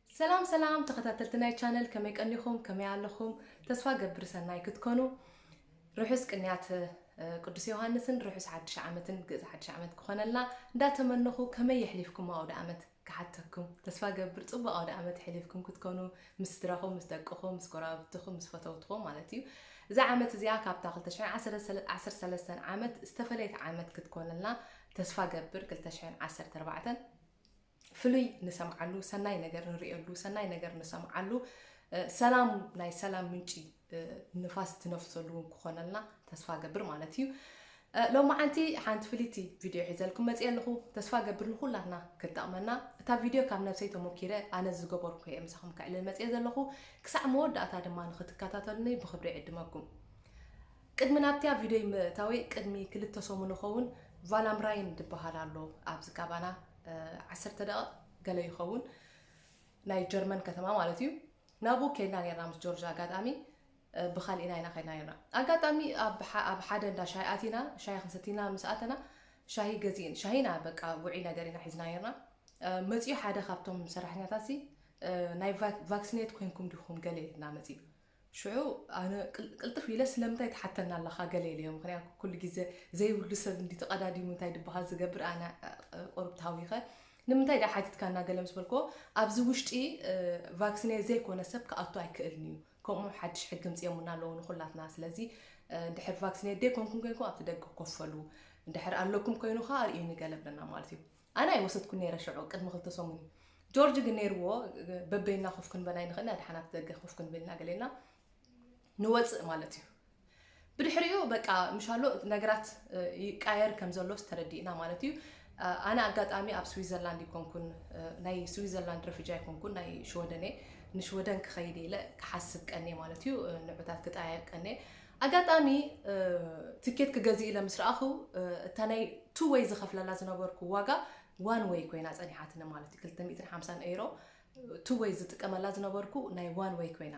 ሰላም ሰላም ተኸታተልቲ ናይ ቻነል ከመይ ቀኒኹም ከመይ ኣለኹም ተስፋ ገብር ሰናይ ክትኮኑ ርሑስ ቅንያት እ፣ ቅዱስ ዮሃንስን ርሑስ ሓድሽ ዓመትን ግእዝ ሓድሽ ዓመት ክኾነልና እንዳተመነኹ ከመይ የሕሊፍኩም ኣውደ ዓመት ክሓተኩም ተስፋ ገብር ፅቡቅ ኣውደ ዓመት የሕሊፍኩም ክትኮኑ ምስ ስድራኹም ምስ ደቅኹም ምስ ጎረባብትኹም ምስ ፈተውትኹም ማለት እዩ እዛ ዓመት እዚኣ ካብታ 213 ዓመት ዝተፈለየት ዓመት ክትኮነልና ተስፋ ገብር 214 ፍሉይ ንሰምዓሉ ሰናይ ነገር ንርእየሉ ሰናይ ነገር ንሰምዓሉ ሰላም ናይ ሰላም ምንጪ ንፋስ ትነፍሰሉ እውን ክኾነልና ተስፋ ገብር ማለት እዩ ሎሚ ሓንቲ ሓንቲ ፍልይቲ ቪድዮ ሒዘልኩም መፅእ ኣለኹ ተስፋ ገብር ንኩላትና ክጠቕመና እታ ቪድዮ ካብ ነብሰይ ተሞኪረ ኣነ ዝገበርኩ እየ ምሳኹም ክዕልል መፅእ ዘለኹ ክሳዕ መወዳእታ ድማ ንክትከታተሉኒ ብክብሪ ዕድመኩም ቅድሚ ናብቲያ ቪድዮይ ምእታወይ ቅድሚ ክልተ ሰሙን ይኸውን ቫላምራይን ድበሃል ኣሎ ኣብዚ ካባና ዓሰርተ ደቐቕ ገለ ይኸውን ናይ ጀርመን ከተማ ማለት እዩ ናብኡ ከይድና ነርና ምስ ጆርጅ ኣጋጣሚ ብካልኢና ኢና ከይድና ነርና ኣጋጣሚ ኣብ ሓደ እንዳ ሻሂ ኣቲና ሻሂ ክንሰቲና ምስ ኣተና ሻሂ ገዚእን ሻሂና በቃ ውዒ ነገር ኢና ሒዝና ነርና መፅኡ ሓደ ካብቶም ሰራሕተኛታት ናይ ቫክሲኔት ኮንኩም ዲኹም ገለ ኢልና መፅኡ ሽዑ ኣነ ቅልጥፍ ኢለ ስለምንታይ ትሓተና ኣለኻ ገለ ኢለዮ፣ ምኽንያቱ ኩሉ ግዜ ዘይብሉ ሰብ እንድዩ ተቐዳዲሙ እንታይ ድበሃል ዝገብር፣ ኣነ ቁሩብ ተሃዊኸ ንምንታይ ድኣ ሓቲትካና ገለ ምስ በልክዎ፣ ኣብዚ ውሽጢ ቫክስኔ ዘይኮነ ሰብ ክኣቱ ኣይክእልን'ዩ፣ ከምኡ ሓድሽ ሕጊ ኣምጺኦምልና ኣለዉ ንኹላትና፣ ስለዚ እንድሕር ቫክስኔት ደይኮንኩም ኮይንኩም ኣብቲ ደገ ኮፍ በሉ፣ እንድሕር ኣለኩም ኮይኑ ከኣ ኣርእዩኒ ገለ ብለና ማለት እዩ። ኣነ ኣይወሰድኩን ነይረ ሽዑ ቅድሚ ክልተ ሰሙን ጆርጅ ግን ነይርዎ በበይና ኮፍ ክንበል ኣይንኽእልና ድሓን ኣብቲ ደገ ኮፍ ክንብልና ገሌና ንወፅእ ማለት እዩ ብድሕሪኡ በቃ ምሻሎ ነገራት ይቃየር ከም ዘሎስ ተረዲእና ማለት እዩ ኣነ ኣጋጣሚ ኣብ ስዊዘርላንድ ይኮንኩን ናይ ስዊዘርላንድ ረፍጃ ይኮንኩን ናይ ሽወደን ንሽወደን ክኸይድ ኢለ ክሓስብ ቀኔ ማለት እዩ ንዑታት ክጠያየቅ ቀኔ ኣጋጣሚ ትኬት ክገዝእ ኢለ ምስ ረኣኹ እታ ናይ ቱ ወይ ዝኸፍለላ ዝነበርኩ ዋጋ ዋን ወይ ኮይና ጸኒሓትኒ ማለት እዩ 250 ኤሮ ቱ ወይ ዝጥቀመላ ዝነበርኩ ናይ ዋን ወይ ኮይና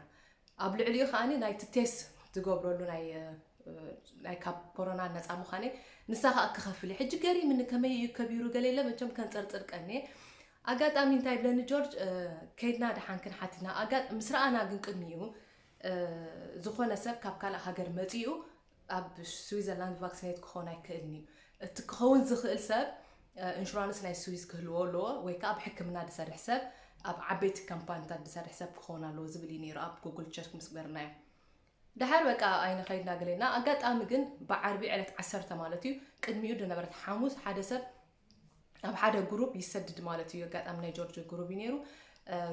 ኣብ ልዕሊኡ ከዓኒ ናይቲ ቴስ ዝገብረሉ ናይ ናይ ካብ ኮሮና ነፃ ምዃነይ ንሳ ከዓ ክኸፍል እዩ ሕጂ ገሪምኒ ከመይ እዩ ከቢሩ ገለ የለ መቸም ከንፀርፅር ቀኒ ኣጋጣሚ እንታይ ብለኒ ጆርጅ ከይድና ድሓን ክንሓቲና ምስ ረኣና ግን ቅድሚኡ ዝኾነ ሰብ ካብ ካልእ ሃገር መጺኡ ኣብ ስዊዘርላንድ ቫክሲኔት ክኾን ኣይክእልን እዩ። እቲ ክኸውን ዝኽእል ሰብ ኢንሹራንስ ናይ ስዊዝ ክህልዎ ኣለዎ ወይ ከዓ ኣብ ሕክምና ዝሰርሕ ሰብ ኣብ ዓበይቲ ካምፓኒታት ዝሰርሕ ሰብ ክኸውን ኣለዎ ዝብል እዩ ነይሩ ኣብ ጉግል ቸርክ ምስ ገበርናዮ ድሓር በቃ ኣይነ ከይድና ገሌና ኣጋጣሚ ግን ብዓርቢ ዕለት ዓሰርተ ማለት እዩ ቅድሚኡ ዝነበረት ሓሙስ ሓደ ሰብ ኣብ ሓደ ግሩብ ይሰድድ ማለት እዩ። ኣጋጣሚ ናይ ጆርጆ ግሩብ እዩ ነይሩ።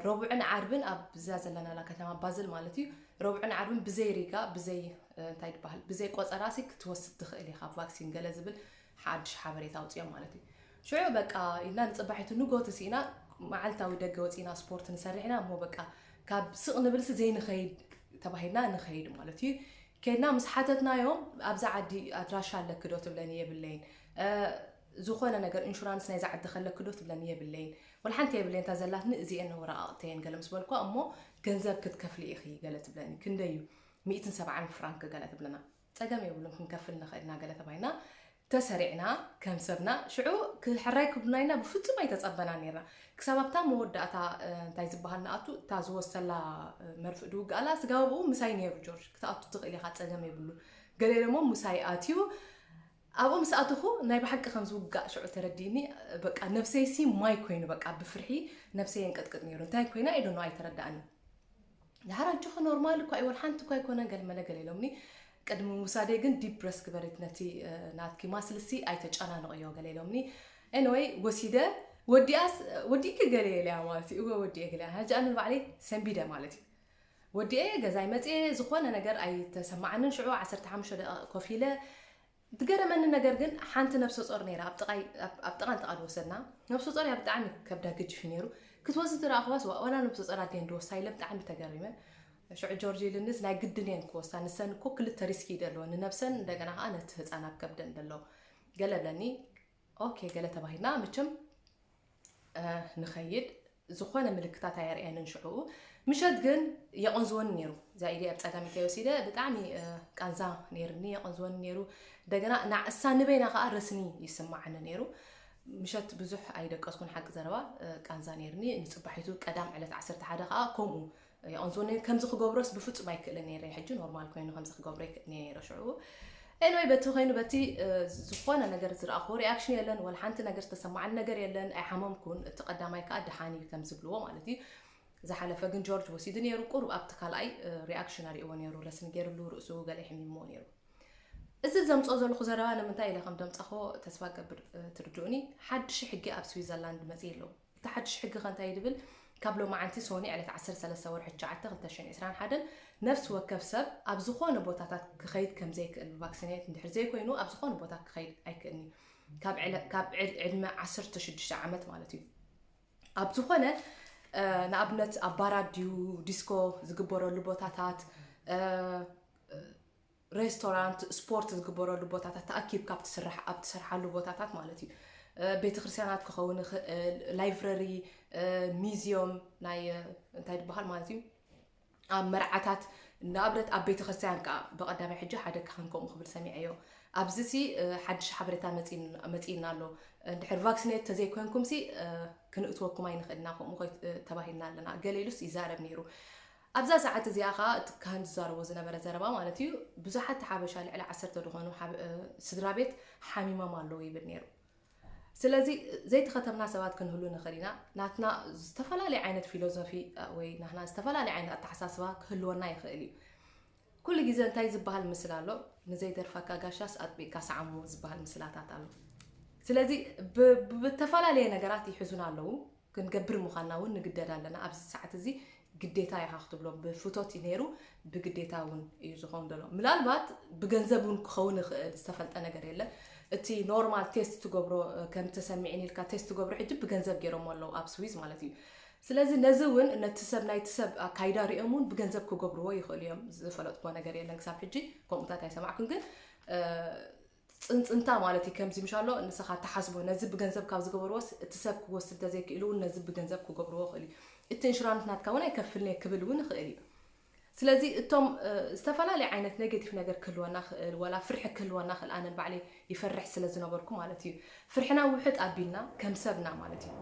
ረቡዕን ዓርብን ኣብዛ ዘለናላ ከተማ ባዝል ማለት እዩ ረቡዕን ዓርብን ብዘይ ሪጋ ብዘይ እንታይ ይበሃል ብዘይ ቆፀራሲ ክትወስድ ትኽእል ኢኻ ቫክሲን ገለ ዝብል ሓድሽ ሓበሬታ ኣውፅኦም ማለት እዩ ሽዑ በቃ ኢልና ንፅባሒቱ ንጎቲ ስኢና መዓልታዊ ደገ ወፂና ስፖርት ንሰርሕ ኢና እሞ በቃ ካብ ስቕ ንብልሲ ዘይንኸይድ ተባሂልና ንኸይድ ማለት እዩ ኬድና ምስ ሓተትናዮም ኣብዛ ዓዲ ኣድራሻ ኣለኪ ዶ ትብለኒ የብለይን ዝኾነ ነገር ኢንሹራንስ ናይዛ ዓዲ ከለኪ ዶ ትብለኒ የብለይን ወላ ሓንቲ የብለይን እታ ዘላትኒ እዚኤን ነው ወረቓቕተየን ገለ ምስ በልኳ እሞ ገንዘብ ክትከፍሊ ኢኺ ገለ ትብለኒ ክንደይ እዩ ሚእትን ሰብዓን ፍራንክ ገለ ትብለና ጸገም የብሉን ክንከፍል ንኽእል ኢና ገለ ተባሂልና ተሰሪዕና ከም ሰብና ሽዑ ክሕራይ ክብሉና ኢልና ብፍጹም ኣይተጸበናን ኔርና። ክሳብ ኣብታ መወዳእታ እንታይ ዝበሃል ንኣቱ እታ ዝወሰላ መርፍእ ድውግኣላ ስጋብ ኣብኡ ምሳይ ኔሩ ጆርጅ ክትኣቱ ትኽእል ኢኻ ጸገም የብሉን ገለ ኢሎሞ ምሳይ ኣትዩ ኣብኡ ምስ ኣተኹ ናይ ብሓቂ ከም ዝውጋእ ሽዑ ተረዲእኒ በቃ ነብሰይሲ ማይ ኮይኑ በቃ ብፍርሒ ነብሰይ የንቀጥቅጥ ኔሩ እንታይ ኮይና ኢዶኖ ኣይተረዳእኒ ድሓር ኣጆኺ ኖርማል እኳ እዩ ወልሓንቲ እኳ ኣይኮነን ገልመለ ገለ ኢሎምኒ ቅድሚ ምውሳደይ ግን ዲፕ ብረስ ግበሪት ነቲ ናትኪ ማስልሲ ኣይተጨናንቕዮ ገለ ኢሎምኒ ኤንወይ ወሲደ ወዲኣስ ወዲእኪ ገለ የለያ ማለት እዩ እወ ወዲኤ ገለ ሕጂ ኣነ ንባዕለይ ሰንቢደ ማለት እዩ ወዲኤ ገዛይ መፅኤ ዝኾነ ነገር ኣይተሰማዓንን ሽዑ 15 ደቂቕ ኮፍ ኢለ ድገረመኒ ነገር ግን ሓንቲ ነብሰጾር ነይራ ኣብ ጥቃይ ኣብ ጥቃ እንተ ወሰድና ነብሰጾር እያ ብጣዕሚ ከብዳ ግጅፊ ነይሩ ክትወስድ ትረኣኽዋስ ዋላ ነብሰጾር ኣድየን ድወስዳ ኢለ ብጣዕሚ ተገሪመ ሽዑ ጆርጅ ልንስ ናይ ግድን እየን ክወስዳ ንሰን እኮ ክልተ ሪስኪ ደለወን ንነብሰን እንደገና ከዓ ነቲ ህፃን ኣብ ከብደን ደሎ ገለ ብለኒ ኦኬ ገለ ተባሂልና መቸም ንኸይድ ዝኾነ ምልክታት ኣየርእየንን ሽዑኡ ምሸት ግን የቐንዝወኒ ነይሩ እዛ ኢደ ኣብ ፀጋም ኢተይ ወሲደ ብጣዕሚ ቃንዛ ነይርኒ የቐንዝወኒ ነይሩ እንደገና ናዕሳ ንበይና ከዓ ረስኒ ይስማዓኒ ነይሩ ምሸት ብዙሕ ኣይደቀስኩን ሓቂ ዘረባ ቃንዛ ነይርኒ ንፅባሒቱ ቀዳም ዕለት 11 ከዓ ከምኡ ኣንሶ ን ከምዚ ክገብሮስ ብፍጹም ኣይክእልን ነይረ ሕጂ ኖርማል ኮይኑ ከምዚ ክገብሮ ይክእል ነይረ ሽዑ ኤንወይ በቲ ኮይኑ በቲ ዝኾነ ነገር ዝረኣኹዎ ሪኣክሽን የለን ወላ ሓንቲ ነገር ዝተሰማዓኒ ነገር የለን ኣይሓመምኩን እቲ ቀዳማይ ከዓ ደሓን እዩ ከም ዝብልዎ ማለት እዩ ዝሓለፈ ግን ጆርጅ ወሲዱ ነይሩ ቁሩብ ኣብቲ ካልኣይ ሪኣክሽን ኣርእዎ ነይሩ ረስኒ ገይርሉ ርእሱ ገለ ሕሚሞ ነይሩ እዚ ዘምፅኦ ዘለኹ ዘረባ ንምንታይ ኢለ ከም ደምፃኹ ተስፋ ገብር ትርድኡኒ ሓድሽ ሕጊ ኣብ ስዊዘርላንድ መፅእ ኣለዉ እቲ ሓድሽ ሕጊ ከ እንታይ ድብል? ካብ ሎማዓንቲ ሶኒ ዕለት ዓሰርተ ሰለስተ ወርሒ ትሽዓተ ክልተ ሽሕን ዕስራን ሓደን ነፍሲ ወከፍ ሰብ ኣብ ዝኾነ ቦታታት ክኸይድ ከምዘይክእል ብቫክሲኔት እንድሕር ዘይኮይኑ ኣብ ዝኾነ ቦታ ክኸይድ ኣይክእልን እዩ ካብ ዕድመ ዓሰርተ ሽዱሽተ ዓመት ማለት እዩ ኣብ ዝኾነ ንኣብነት ኣብ ባራት ድዩ ዲስኮ ዝግበረሉ ቦታታት ሬስቶራንት፣ ስፖርት ዝግበረሉ ቦታታት ተኣኪብካ ኣብቲ ስራሕ ኣብ ትሰርሓሉ ቦታታት ማለት እዩ። ቤተክርስትያናት ክኸውን ይኽእል፣ ላይብረሪ፣ ሚዚዮም ናይ እንታይ ዝበሃል ማለት እዩ ኣብ መርዓታት ንኣብነት ኣብ ቤተ ክርስቲያን ከዓ ብቐዳማይ ሕጂ ሓደ ካህን ከምኡ ክብል ሰሚዐዮ ኣብዚ ሲ ሓድሽ ሓበሬታ መፂእና ኣሎ እንድሕር ቫክሲኔት ተዘይኮንኩም ሲ ክንእትወኩም ኣይንኽእልና ከምኡ ተባሂልና ኣለና ገሌሉስ ይዛረብ ነይሩ ኣብዛ ሰዓት እዚኣ ከኣ እቲ ካህን ዝዛረቦ ዝነበረ ዘረባ ማለት እዩ ብዙሓት ሓበሻ ልዕሊ ዓሰርተ ዝኾኑ ስድራቤት ሓሚሞም ኣለዉ ይብል ነይሩ። ስለዚ ዘይተኸተምና ሰባት ክንህሉ ንኽእል ኢና፣ ናትና ዝተፈላለየ ዓይነት ፊሎዞፊ ወይ ናህና ዝተፈላለየ ዓይነት ኣተሓሳስባ ክህልወና ይኽእል እዩ። ኩሉ ግዘ እንታይ ዝበሃል ምስላ ኣሎ ንዘይደርፈካ ጋሻስ ኣጥቢቅካ ሰዓሞ ዝበሃል ምስላታት ኣሎ ስለዚ ብተፈላለየ ነገራት ይሕዙና ኣለዉ ክንገብር ምዃንና እውን ንግደድ ኣለና ኣብዚ ሰዓት እዚ ግዴታ ኢኻ ክትብሎ ብፍቶት እዩ ነይሩ ብግዴታ እውን እዩ ዝኸውን ዘሎ ምናልባት ብገንዘብ እውን ክኸውን ይኽእል ዝተፈልጠ ነገር የለ እቲ ኖርማል ቴስት ትገብሮ ከም ተሰሚዕን ኢልካ ቴስት ትገብሮ ሕጂ ብገንዘብ ገይሮሞ ኣለዉ ኣብ ስዊዝ ማለት እዩ ስለዚ ነዚ ውን ነቲ ሰብ ናይቲ ሰብ ኣካይዳ ሪኦም ውን ብገንዘብ ክገብርዎ ይኽእሉ እዮም ዝፈለጥክዎ ነገር የለን ክሳብ ሕጂ ከምኡታት ኣይሰማዕኩን ግን ፅንፅንታ ማለት እዩ ከምዚ ምሻሎ ንስኻ ተሓስቦ ነዚ ብገንዘብ ካብ ዝገበርዎስ እቲ ሰብ ክወስድ እንተዘይክኢሉ ውን ነዚ ብገንዘብ ክገብርዎ ይኽእሉ እቲ እንሽራንት ናትካ ውን ኣይከፍልን እየ ክብል ውን ይኽእል እዩ ስለዚ እቶም ዝተፈላለየ ዓይነት ኔጌቲቭ ነገር ክህልወና ይኽእል፣ ዋላ ፍርሒ ክህልወና ይኽእል፣ ኣነ ንባዕለይ ይፈርሕ ስለ ዝነበርኩ ማለት እዩ። ፍርሕና ውሕጥ ኣቢልና ከም ሰብ ኢና ማለት እዩ።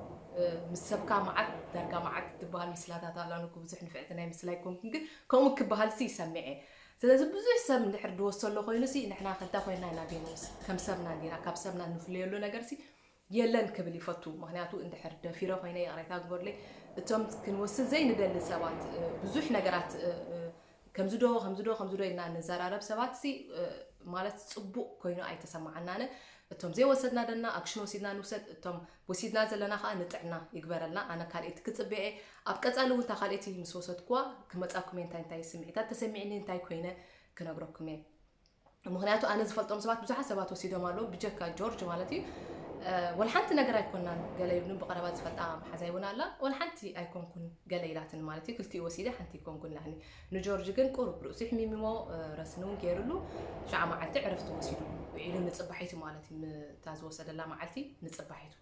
ምስ ሰብካ መዓት ዳርጋ መዓት እትበሃል ምስላታት ኣላ፣ ኣነ እኮ ብዙሕ ንፍዕቲ ናይ ምስላ ኣይኮንኩን፣ ግን ከምኡ ክበሃልሲ ይሰምዕ እየ። ስለዚ ብዙሕ ሰብ እንድሕር ድወሰሎ ኮይኑሲ ንሕናኸ እንታይ ኮይንና ኢና ጌና? ምስ ከም ሰብና ጌና ካብ ሰብና እንፍለየሉ ነገርሲ የለን ክብል ይፈቱ ምክንያቱ እንድሕር ደፊረ ኮይነ ይቅሬታ ግበሩለይ እቶም ክንወስድ ዘይንደሊ ሰባት ብዙሕ ነገራት ከምዚ ዶ ከምዚ ዶ ከምዚ ዶ ኢልና ንዘራረብ ሰባት ሲ ማለት ጽቡቅ ኮይኑ ኣይተሰማዓናነ እቶም ዘይወሰድና ደና ኣክሽን ወሲድና ንውሰድ እቶም ወሲድና ዘለና ከዓ ንጥዕና ይግበረልና ኣነ ካልኤቲ ክጽበ እየ ኣብ ቀጻሊ እውን እታ ካልኤቲ ምስ ወሰድኩዋ ክመጻኩም እየ እንታይ እንታይ ስምዒታት ተሰሚዕኒ እንታይ ኮይነ ክነግረኩም እየ ምክንያቱ ኣነ ዝፈልጦም ሰባት ብዙሓት ሰባት ወሲዶም ኣለዉ ብጀካ ጆርጅ ማለት እዩ ወላ ሓንቲ ነገር ኣይኮናን ገለ ይብሉ ብቀረባ ዝፈልጣ መሓዛይ እውን ኣላ ወላ ሓንቲ ኣይኮንኩን ገለ ኢላትን ማለት እዩ ክልቲኡ ወሲደ ሓንቲ ይኮንኩን ላኒ ንጆርጅ ግን ቁሩብ ርእሱ ሕሚምዎ ረስኒ እውን ገይሩሉ ሸዓ መዓልቲ ዕረፍቲ ወሲዱ ኢሉ ንፅባሒቱ ማለት እዩ እታ ዝወሰደላ መዓልቲ ንፅባሒቱ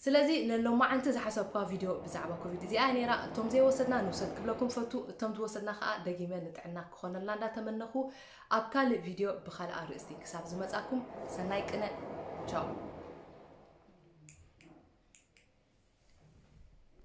ስለዚ ለሎማዓንቲ ዝሓሰብኩዋ ቪድዮ ብዛዕባ ኮቪድ እዚኣ'ያ ነይራ። እቶም ዘይወሰድና ንውሰድ ክብለኩም እፈቱ። እቶም ዝወሰድና ከኣ ደጊመ ንጥዕና ክኾነልና እንዳተመነኹ ኣብ ካልእ ቪድዮ ብኻልእ ኣርእስቲ ክሳብ ዝመጻኩም ሰናይ ቅነ። ቻው።